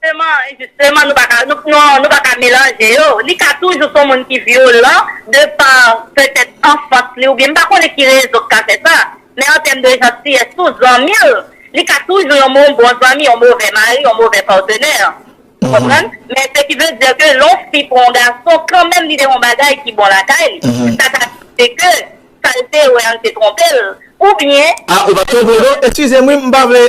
Jisteman, jisteman nou pa ka, nou pa ka melanje yo. Li ka toujou son moun ki vyolan de pa petèt anfans li oubyen m pa konnen ki rezon k ka fè sa. Men an tèm de jantiyès tou, zanmi l, li ka toujou yon moun bon zanmi, yon movè mari, yon movè patenè. Ou konprann? Men se ki vle di ke lè yon fi pran yon gason kanmenm li te yon bagay ki bon lakay li. Sa ka rive ke sa l te wè an te twonpe l oubyen. A ou pa twonpe w non. Eskize m wi m pa vle,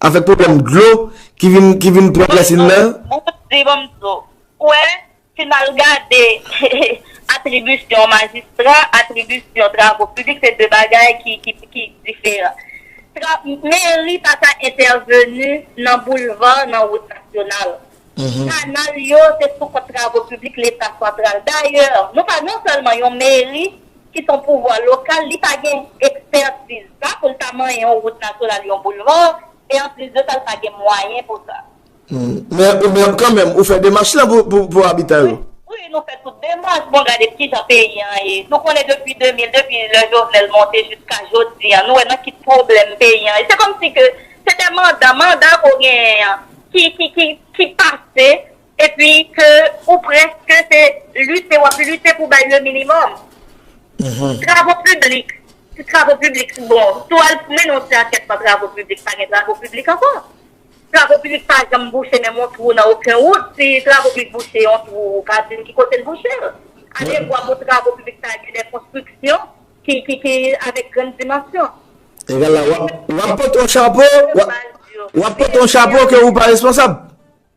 Avèk pwoblèm dlo ki vin pran plas il la. Bon m di bon m di w. Ou wè, si n al gade atribisyon majistra, atribisyon travo piblik se de bagay ki diferan. Meri pa ka entèveni nan boulva, nan wout nasyonal. Kanal yo se sou kont travo piblik leta santral. Dayè, nou pa non sèlman yon meri. ki son pouvwa lokal, li pa gen ekspertiz sa pou l ta manyen yon wout nasyonal, yon boulva, e anplis de sa l pa gen mwayen pou sa. Men kanmenm ou fè demach lan pou abitan yo? Wi, nou fè tout demach. Bon, gade ki jan peyi an ye. Nou konnen depi 2000, depi lè Jovenel monte jiska jodi an, nou wè nan ki pwoblèm peyi an ye. Se kòmsi ke se te manda, manda ke w genyen an ki pase Epi ke ou preske se lite wap lite pou bay le minimum. Travo piblik, si travo piblik si bon, si w al mennen yon ti ankèt nan travo piblik pa gen travo piblik ankò. Travo piblik pa janm bouche menm yon twou nan oken wout, si travo piblik bouche yon twou ou ka di m ki kote l bouche l. Ale vwa pou travo piblik sa gen de konstriksyon ki avèk grann dimansyon. E gade la, wap pote yon chapo, wap pote yon chapo ke ou pa responsab.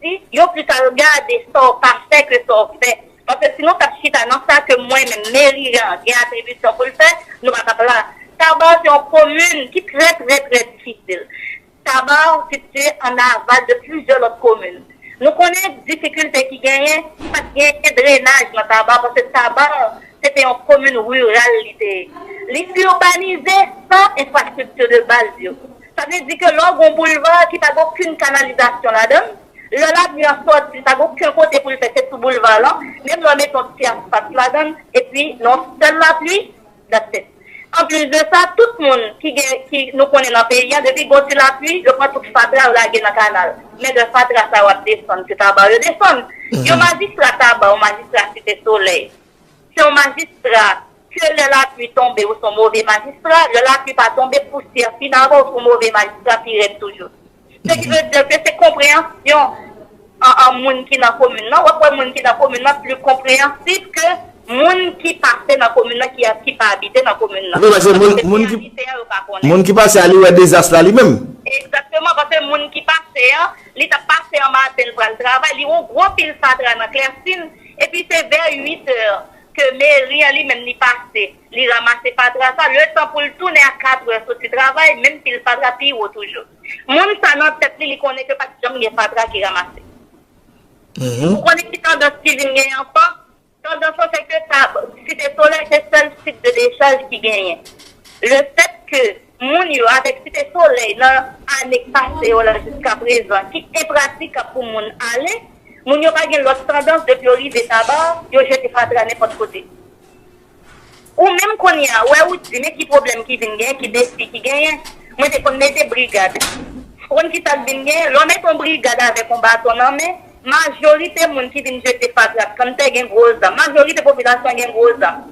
Di yo pita regade sa w pa fè ke sa w fè. Paske si nou t ap chita nan sa ke mwen menm, Meri an, gen atribisyon pou l fè, nou pa t ap la. Taba se yon komin ki trè trè trè difisil. Taba sitye an aval de plizyè lòt komin. Nou konnen difikilte ki genyen, pa t genyen drenaj nan Taba paske Taba se te yon komin riral li te ye. Li urbanize san enfrastrikti de baz yo. Sa vle di ke lè w gen yon boulva ki pa gen okenn kanalizasyon ladan l, lè lavni an sòti li pa gen oken kote pou l fè se sou boulva lan, menm lè w mete yon ti asfalt ladan l epi nan yon sèl lapli, that's it. Anplis de sa, tout moun ki gen, ki nou konnen nan peyi an, depi gen yon ti lapli, yo pran tout fatra yo lage nan kanal. Men lè fatra sa yo ap desann, se Taba yo desann. Yon majistra Taba, yon majistra Site Solèy, Se yon majistra ke lè lapli tonbe ou son move majistra, lè lapli pa tonbe pousyè finalman ou son move majistra pi rèd toujou. Se ki vle di ke se konpreyansyon an moun ki nan komin nan, wap wè moun ki nan komin nan pli konpreyansib ke moun ki pase nan komin nan ki pa abite nan komin nan. Paske moun ki abite an yo pa konnen. Moun ki pase a li wè dezas la li menm. Egzakteman, paske moun ki pase an, li tap pase an maten li pral travay, li wè yon gwo pil fatra nan klèsin, Epi se vè 8 è ke Mary an li menm li pase, li ramase fatra sa, le tan pou l tounen a 4 è soti travay, menm pil fatra pi wo toujou. Moun sa nan tèt li, li konnen ke pa t janm gen fatra ki ramase. Ou konnen ki tandans ki vin genyen ankò? Tandans lan se ke Site Solèy se sèl sit de dechaj ki genyen. Le fèt ke. moun yo avèk Site Solèy nan ane k pase yo la jiska prezan ki enpratikab pou moun ale, moun yo pa gen lòt tandans depi yo rive Taba, yo jete fatra nenpòt kote. Ou menm kounye a, wè ou di men ki pwoblèm ki vin genyen, ki defi ki genyen. Mwen te konn mete brigad. Ou konn kisa k vin genyen? Lè w mete yon brigad avèk yon baton nan men, majorite moun ki vin jete fatra ak kanntè gen gwo zan. Majorite popilasyon an gen gwo zan.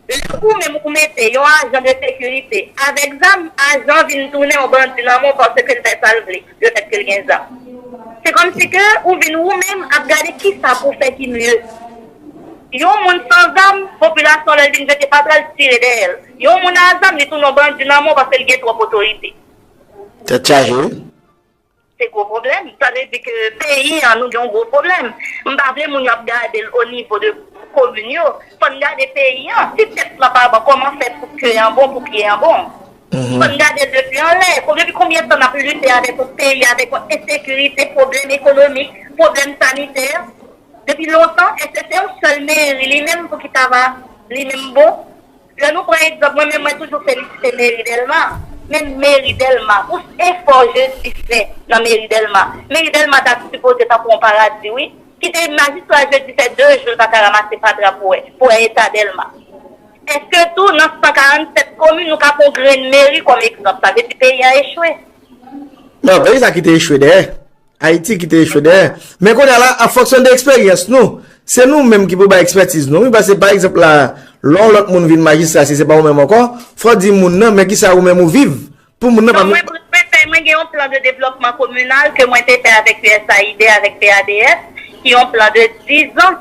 Lè ou menm ou mete yon ajan de sekirite avèk zam, ajan an vin tounen yon bandi nan men w paske l fè sa l vle lefèt ke l gen zam. Se kòmsi ke ou vin ou menm ap gade kisa pou w fè ki mye. Yon moun san zam, popilasyon lè l vin vete pa pral tire dèyè l. Yon moun a zam li tounen yon bandi nan men w paske l gen twòp otorite. Tèt chaje wi. Se gwo pwoblèm, sa vle di ke peyi an nou gen yon gwo pwoblèm. M pa vle moun yo ap gade l o nivo de komin yo, fò n gade peyi an. Si tèt lan pa bon kòman fè pou ke an bon, pou pye an bon? Fò n gade l depi anlè. Depi konbyen tan n ap lite avèk yon peyi, avèk yon ensekirite, pwoblèm ekonomik, pwoblèm sanitè, depi lontan? Èske se yon sèl meri li menm pou ki ta va li menm bon? Lè nou pran egzanp mwen menm mwen toujou felisite meri dèlma men meri dèlma pou efò jezi fè nan meri dèlma meri dèlma ta sipoze tankou yon paradi wi kite majistra jezi fè 2 jou l paka ramase fatra pou wè pou wè eta dèlma eske tou nan 147 komin nou ka pran yon grenn meri kòm egzanp sa vle di peyi an echwe. Non, peyi sa kite echwe dèyè. Ayiti ki te echwe dèyè. Men kounye a la, an fonksyon de eksperyans nou, se nou menm ki pou bay ekspètiz nou wi, pase pa egzanp la, lè yon lòt moun vin majistra si se pa ou menm ankò, fò w di moun nan, men kisa ou menm ou viv pou moun nan pa vin. Nan mwen fèy mwen gen yon plan de devlòpman kominal ke mwen te fè avèk usaid, avèk PADS, ki yon plan de 10 zan.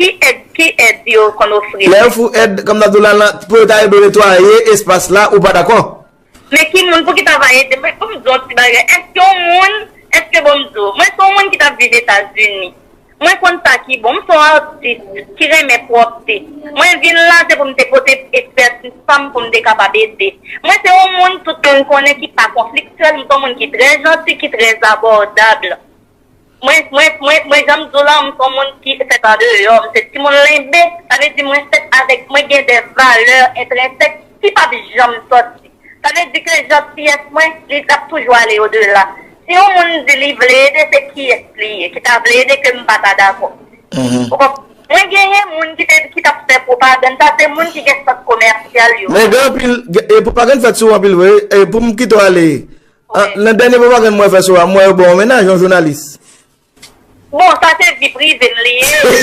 Ki èd ki èd yo konn ofri mwen? Lè yo fou èd kòm nan dola lan pou yo ta ede w netwaye espas la ou pa dakò? Men ki moun pouki ta va ede mwen fòm di yon ti bagay èske yon moun èske bon m di w mwen se yon moun ki tap viv etazini mwen konn sa ki bon m se yon atis ki renmen pwòpte mwen vin la se pou m te pote espètis pa m pou m te kapab ede mwen se yon moun tout moun konnen ki pa konfliktyèl m se yon moun ki trè janti ki trè zabòdab. Mwen, mwen, mwen, mwen jan m di w lan, m se yon moun ki fèt andeyò, m se timoun Lenbe, sa vle di mwen fèt avèk, mwen gen de valè entrensèk ki p ap janm sòti. Sa vle di ke jantiyès mwen, li ap toujou ale odela. Si yon moun di li vle ede, se kiyès li ye ki ta vle ede ke m pa ta dakò? Ou konprann? Mwen genyen moun ki te, ki t ap fè pwopagann sa, se moun ki gen sant komèsyal yo. Men gen anpil, gen, e pwopagann fèt sou ou anpil vre, e pou m kite w ale, Ah nan dènye pwopagann mwen fè sou ou a m wè yo ba w mennaj yon jounalis. Bon sa se vi prive m li ye wi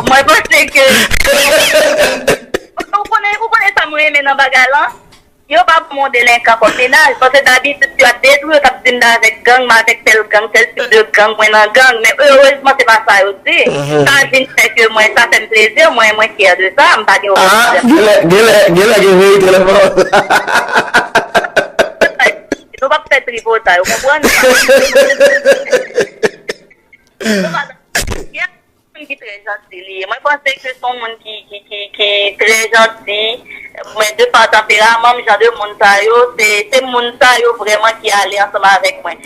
mwen panse ke ou konnen ou konnen sa m renmen nan bagay lan yo pa ban m yon delenkan kòm mennaj paske dabitid si yo ap detwi yo t ap di m m avèk gang m avèk tèl gang tèl tip de gang mwen nan gang men erezman se pa sa yo di. Sa vin fè ke mwen, sa fèm plezi, mwen, mwen fyè de sa, m pa gen okenn pwoblèm. Genlè, genlè, genlè gen verite nan pawòl sa. Nou pap fè tripotay, ou konprann? Nou pa nan Nou pa nan Pierre se yon moun ki trè janti li ye. Mwen panse ke se yon moun ki, ki, ki, ki trè janti. Mwen de pa tanperaman m, jan de moun sa yo, se, se moun sa yo vrèman ki ale ansanm avèk mwen.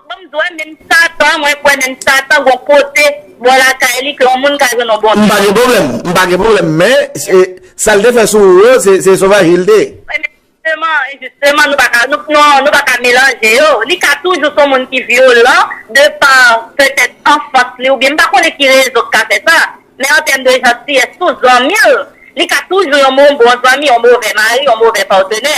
Banm di w menm satan mwen kwè menm satan gon kote bò lakay li ke yon moun ka jwenn yon bon Mpa gen pwoblèm mpa gen pwoblèm men sal te fè sou ou yo se sovaji l te. Wi men jisteman jisteman nou paka nou paka melanje yo li ka toujou son moun ki vyolan de pa petèt anfans li oubyen mpa konnen ki rezon ki ka fè sa men an tèm de jantiyès tou zanmi l li ka toujou yon moun bon zanmi yon movè mari yon movè patenè.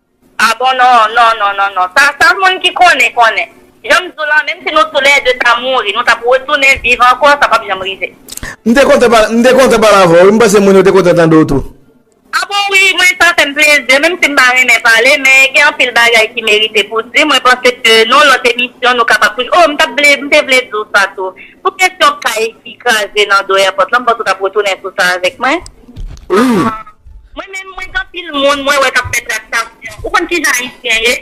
Ah bon non non non non non sa sa moun ki konnen konnen janm di w lan menm si nou tou lè 2 ta mouri nou tap retounen viv ankò sa pap janm rive. M te kontan pale m te kontan pale avè w wi m panse moun yo te kontan tande w tou. Ah bon wi mwen sa fè m plezi menm si m pa renmen pale men gen anpil bagay ki merite pou di mwen panse ke non lòt emisyon nou kapab toujou oh m tap vle m te vle di w sa tou pou kesyon kay ki kraze nan do èpòt lan m panse w tap retounen sou sa avèk mwen. Mwen menm mwen gen anpil moun mwen wè kap fè traktasyon ou konn kijan ayisyen ye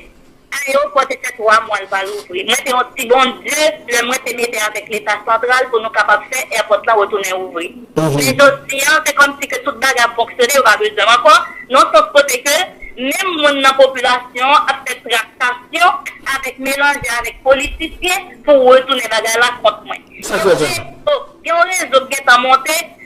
aeopò te fè 3 mwa l pa louvri mwen te on ti bondye lè mwen te mete avèk leta santral pou nou kapab fè èpòt lan retounen ouvri men jodi an se kòmsi ke tout bagay ap fonksyone yo pa bezwen m ankò nan sans kote ke menm moun nan popilasyon an ap fè traktasyon avèk melanje avèk politisyen pou retounen bagay la kont mwen paske gen on rezo k gentan monte.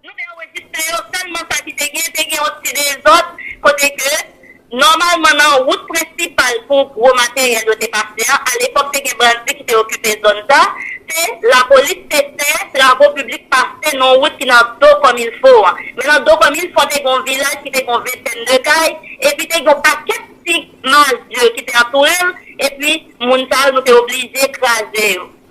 Nou te anrejistre yo sèlman sa ki te gen, te gen yon ti dezòd kote ke nòmalman nan wout prensipal pou gwo materyèl yo te pase a, alepòk te gen bandi ki te okipe zòn sa, se lapolis te fè travo piblik pase nan yon wout ki nan do kòmilfo an. Men nan do kòmilfo te gen yon vilaj ki te gen yon ventèn de kay, epi te gen yon pakèt ti mazye ki te antoure l, epi moun sa yo nou te oblije kraze yo.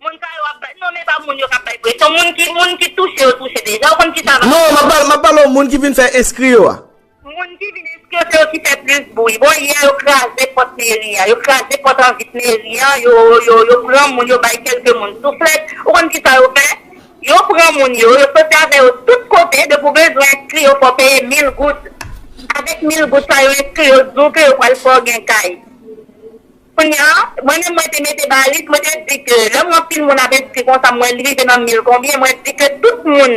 Moun sa yo ap bay non men pa moun yo kap bay presyon moun ki moun ki touche yo touche deja ou konn kisa vag Non map pale map pale w moun ki vin fè enskri yo a. Moun ki vin enskri yo se yo ki fè plis bri bon yè yo kraze pòt meri a yo kraze pòt an vit meri an yo yo yo pran moun yo bay kelke moun souflèt ou konn kisa yo fè yo pran moun yo yo soti avè yo tout kote depi w bezwen enskri yo fò w peye mil goud avèk mil goud sa yo enskri yo di w ke yo pral fè w gen kay. Kounya, mwen menm mwen te mete balis, mwen te di ke lè m wè anpil moun ap enskri konsa m wè li rive nan mil konbyen, mwen di ke tout moun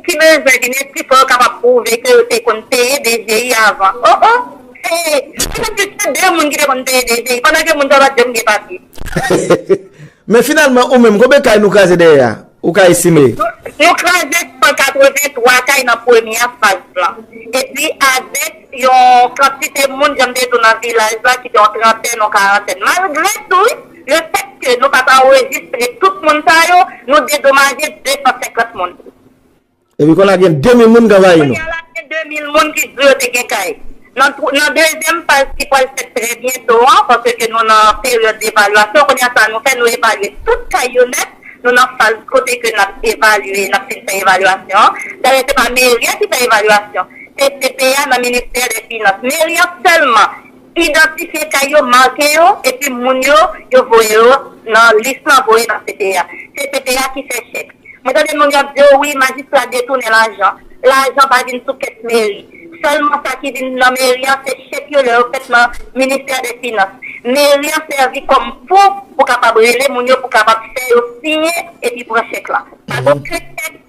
ki bezwen vin enskri fò yo kapab pwouve ke yo te konn peye DGI avan. O o! Se, mwen menm te sèl de moun ki te konn peye DGI, pandan ke moun sa yo pa t janm gen papye. Men finalman ou menm, konbyen kay nou kraze dèyè a? Ou ka estime. Nou kraze 183 kay nan premye faz lan. Epi avèk yon kantite moun, jan m te di w nan vilaj la ki gen yon trantèn, yon karantèn. Malgre tou, lefètke nou pa t anrejistre tout moun sa yo, nou dedomaje 250 moun. Epi kounya gen 2000 moun k anvayi nou. Kounya la gen 2000 moun ki di yo te gen kay. Nan dezyèm faz ki pwal fèt trè byento an, paske ke nou nan peryòd evalyasyon, kounya sa nou fè nou evalye tout kay yo nèt, nou nan faz kote ke n ap evalye, n ap fin fè evalyasyon an. Dayè se pa meri a ki fè evalyasyon, se CPA nan ministè lè finans. Meri an sèlman. Idantifye kay yo, make yo, epi moun yo yo voye yo nan lis lan voye nan CPA. Se CPA ki fè chèk. Mwen tande moun yo ap di o wi majistra detounen lajan. Lajan pa vin sou kès meri. Sèlman sa ki vin nan meri an se chèk yo lè yo fèt nan ministè dè finans. Meri an sèvi kòm pon pou kapab rele moun yo pou kapab fè yo siyen epi pran chèk lan. Pa gen okenn chèk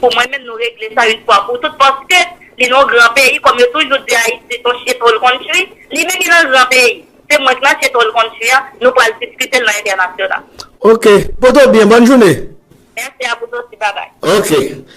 Pou mwen menm nou regle sa yn fwa pou tout paske li non gran peyi kòm yo toujou di ayiti son shithole country li menm li nan gran peyi se mwen k nan shithole country an nou pwal diskitel nan entènasyonal. Ok. Poto byen, bòn joune. Mèsi a vous aussi, babay. Ok.